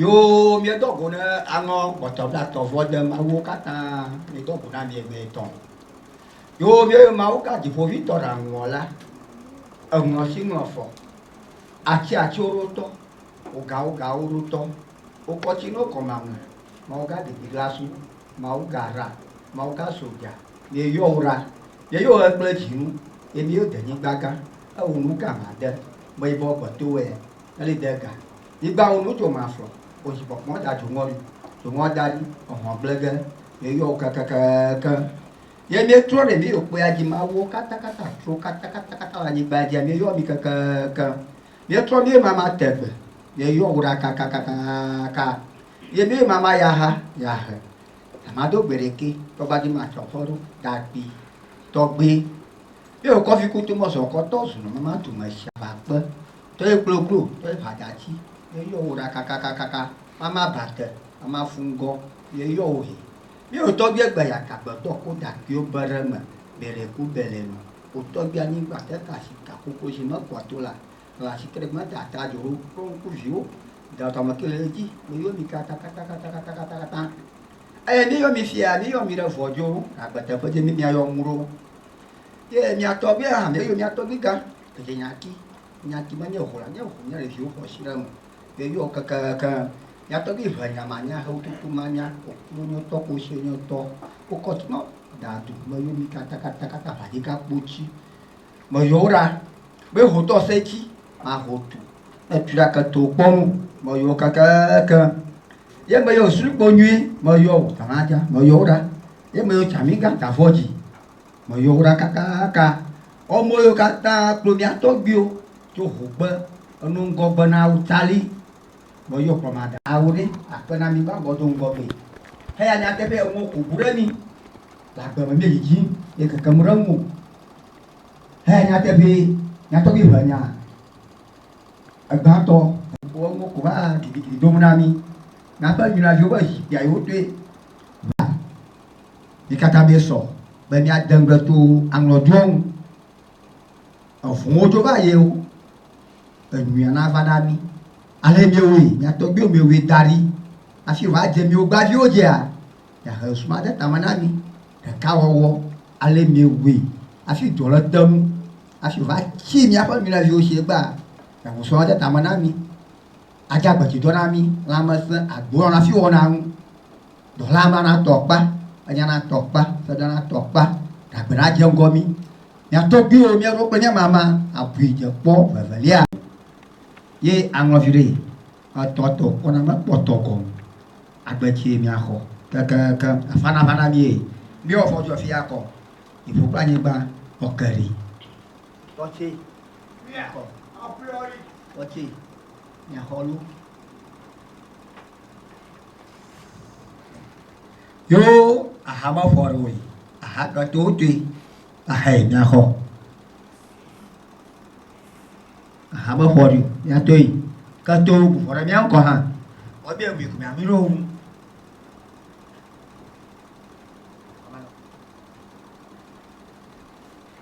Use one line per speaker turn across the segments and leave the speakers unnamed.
Yoo, miedɔ go ne alɔ gbɔtɔ blatɔ vɔ de mawuwo katã, miedɔ go na mie mɛ tɔn. Yoo, mieyo Mawu ka Dziƒoʋĩtɔ ɖa ŋu ɔ la, eŋlɔ tsi ŋlɔ fɔ, atsi atsi wo ɖo tɔ, wo ga wo ga wo ɖo tɔ, wo kɔ tsi no kɔ mamle, Mawu ga Didiglasu, Mawu ga ra, Mawu ga soja, mie yɔ wo ɖa, mie yo ɣe kple dzi nu, ye mie yo de nyigba gã, ewo nu ga ma de, meyibɔ gbe to wɛ, Eli de ga. Nyigba ŋu nu dzo ma flɔ o dzi kpɔkpɔ da dzoŋɔ ɖi. Dzoŋɔ da ɖi ehɔn gble ge ye yɔ wo kekekeeke. Ye mi trɔ ɖe mi yo kpɔya dzi mawuwo kata kata tro kata kata kata la nyigba dzi mi yɔ mi kekekeeke. Mi trɔ mi mama tegbe ye yɔ wo ɖa kaka kaka kaka. Ye mi mama yaha yahe. Ama do gbe ɖeke tɔgba dzi ma trɔ fɔ ɖo da kpi tɔgbe. Mi yo kɔfi kutu mɔ zɔkɔ tɔ zunu mama tu me shaba kpe. Tɔye kloklo, tɔye ʋadatsi, ye yɔ wò ɖa kakakakaka, mama ba te, mama fu ŋgɔ, ye yɔ wò he. Mi wò tɔgbie gbe ya ka gbetɔ ko ɖakuiwo be ɖe me bele ku bele nu. Wò tɔgbie anyigba te ka si ka kokoshi me kua to la, la si kere me da ta doro kple ŋku viwo da dɔ me ke le edzi me yɔ mi katakatakatakatakatakata. Eye mi yɔ mi fia, mi yɔ mi ɖe vɔ dzo, agbeteƒe dzi mi mia yɔ ŋu ɖo. Ye mia tɔgbie hã mi yɔ mia tɔgbie gã. Ɖe nyati, nyati menye ʋu la nye ʋu nye ɖeviwo xɔ asi ɖe eme ye yɔ kekeŋ. Nya tɔgbi ʋe nya ma nya hewu tutu ma nya okpo nyo tɔ kpo sie nyo tɔ wo kɔ tuma da du me yo mi kata kata kata ʋadi ka kpo ci me yɔ wo ɖa be ho tɔ se ci ma ho tu ne tu ɖa ke to kpɔ nu me yɔ kekeŋ ye me yɔ sri kpo nyui me yɔ wo tana ja me yɔ wo ɖa ye me yɔ cami ga ta vɔ ji. Meyɔ wo ɖa kakaka. Ɔme yiwo katã kplɔ mía tɔgbuiwo tso hogbe eno ŋgɔgbe na wo tsali. Meyɔ kplɔmadawo ɖe akpe na mí gbãgbɔ do ŋgɔgbe heya nyateƒe enuwo ku bu ɖe mí. Le agbe me míedzidzim ye kekem ɖe eŋu o. Heya nyateƒe mía tɔgbui ʋe nya egbãtɔ. Wɔ enuwo ku va gidigidi dom na mí. Míaƒe nyraviwo ƒe zikpuia yi wotoe va. Mi katã miesɔ be miade ŋugble to aŋlɔɖiwo ŋu. Eŋuwo dzo va yio, enyuia nava na mi. Ale miewɔe, mia tɔgbuiwo miewɔe da ɖi hafi wòadze miwo gbaviwo dzia? Miahe ŋsu made tame na mi, ɖekawɔwɔ, ale miewɔe hafi dɔ le te nu hafi wòatsi miaƒe nyɔnuviwo si gbaa? Miahe ŋsu made tame na mi. adze agbetsidɔ na mí lãmesẽ agblɔ na fi wɔna ŋu. Dɔla ma natɔ kpa, enya natɔ kpa, sedɔ natɔ kpa, gagbe nadze ŋgɔ mí. Mía tɔgbuiwo mía ɖo kple nye mama abui dze kpɔ vevelia ye aŋlɔ viɖe etɔ tɔ kpɔna mekpɔtɔ gɔn agbetsi mía xɔ kekeeke afana vana mí ye mí wɔ fɔ jɔ fia kɔ iƒo kple anyigba ɔkeri tɔtse mía kɔ. Xɔtse, nya xɔlu. Yo aha ma fɔ ɖe wòye, aha ɖɔ to toe, aha yi nya xɔ. Aha ma fɔ ɖe nya to yi, ke to bu fɔ ɖe mía ŋkɔ hã. Wọ́n bia mi kùmí àmì lóhùn.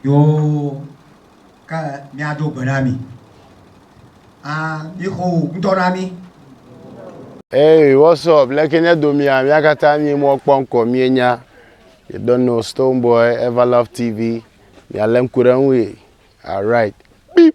Yoo, ke míado gbe na mi. A, mixo wò ŋutɔ na mí.
Hey, what's up? Leke nye domia? Mía katã mí mɔ kpɔ ŋkɔ mí nya. You don't know Stone Boy, Everlove TV. Mía le ŋku ɖe ŋui. Alright. Beep.